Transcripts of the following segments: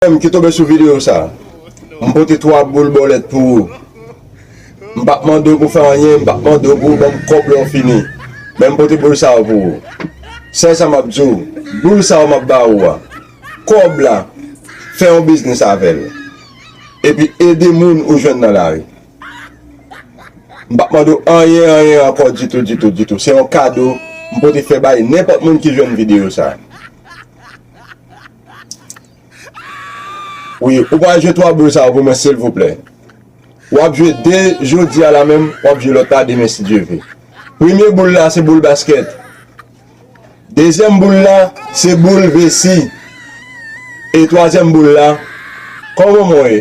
Frèm ki tonbe sou video sa, m pote 3 boul bòlèt pou ou. M pap mande w pou fè anyen, m pap mande w pou ou ban m kòb lè w fini. Men m pote boul sa yo pou ou. Sèl sa m ap di w, boul sa yo m ap ba ou a, kòb la, fè yon biznis avè l. Epi ede moun ou jwenn nan lari. M pap mande w anyen anyen ankò ditou ditou ditou. Se yon kado m pote fè bay nenpòt moun ki jwenn video sa. Wi ou pa jwe 3 boul sa yo pou mwen silvouplè wap jwe 2 jodi a la menm wap jwe lòt la demen si Dye ve premye boul la se boul baskèt dezyèm boul la se boul vesi e twazyèm boul la kòman mwen ye.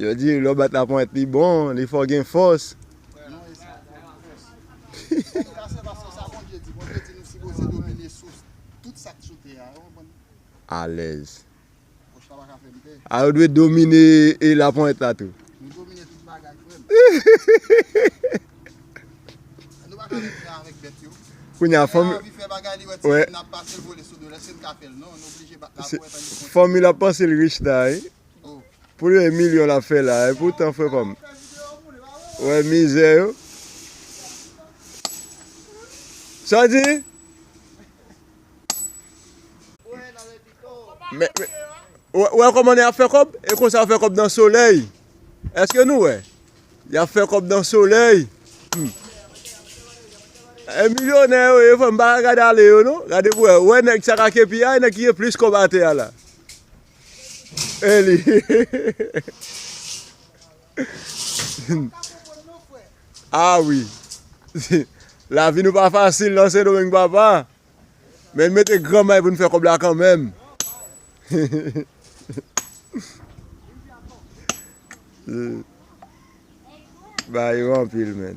Yo di lè w bat laponyèt li bon, li fè w gen fòs. Alèz. A yo dwe domine e laponyèt la tou. Kounye a fòm. Fòm il ap panse l rich la. Pou yon milyon lap fè la. E pou tan frè pam. Ou wè mizè yo. Sa di? Ou wè koman yap fè kob? E konsa yap fè kob nan solèy. Eske nou wè? Yap fè kob nan solèy. E milyonè yo ye frè m. Pa gade ale yo non. Gade pou wè. Ou wè nèg sa ka kepi a. E nèg ki gen plis kob atè a la. Hey li. Ah oui. La vie nou pa fasil nan Sendomeng papa. Men nou mete gran may pou nou fè kob la kan menm. Ba yo anpil men.